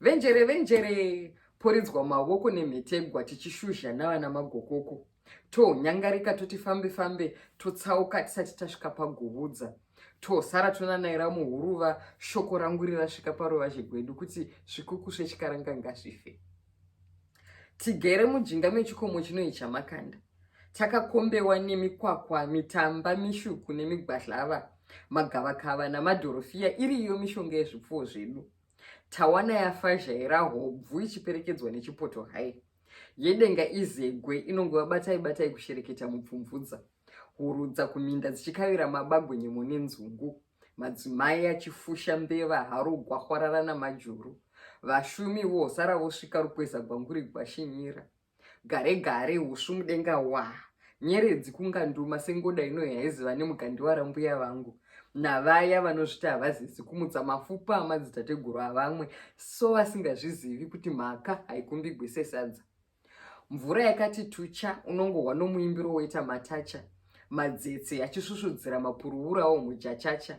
Venjere venjere poridzwa mawoko nemhetegwa tichishuzha navana magokoko tonyangarika toti fambe fambe totsauka tisati tasvika paguvudza tosara tonanaira muhuruva shoko rangu rirasvika paruvazhe gwedu kuti zvikuku zvechikaranga ngazvife tigere mujinga mechikomo chinoyi chamakanda takakombewa nemikwakwa mitamba mishuku nemigwadlava magavakava namadhorofiya iriyo mishonga yezvipfuwo zvedu tawana yafazhaira hobvu ichiperekedzwa nechipoto hai yedenga izegwe inongova batai batai kushereketa mupfumvudza hurudza kuminda dzichikavira mabagwe nyemo nenzungu madzimai achifusha mbeva haro gwahwarara namajuru vashumi vosara vosvika rukweza gwanguri gwashinyira Gare gare husvu mudenga waa. Nyeredzi kunga nduma sengoda ino yaiziva nemugandiwa rambuya vangu navaya vanozviti havazizi kumutsa mafupa amadzitateguru avamwe so vasingazvizivi kuti mhaka haikumbigwe sesadza. Mvura yakati tucha unongohwa nomuimbiro woita matacha madzetse achisvusvudzira mapuruwurawo mujachacha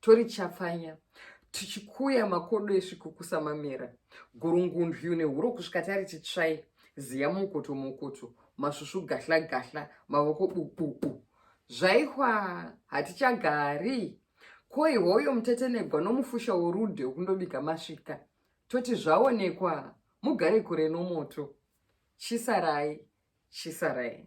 Tori chapfanya tichikuya makodo esviko kusamamera gurungundyu nehuro kusvika tari titsvai ziya mukoto mokoto masvusvu gahla gahla mavoko bububu zvaihwa hatichagari koi hoyo mutetenegwa nomufusha worude wokundobika masvika toti zvaonekwa mugare kure nomoto chisarai chisarai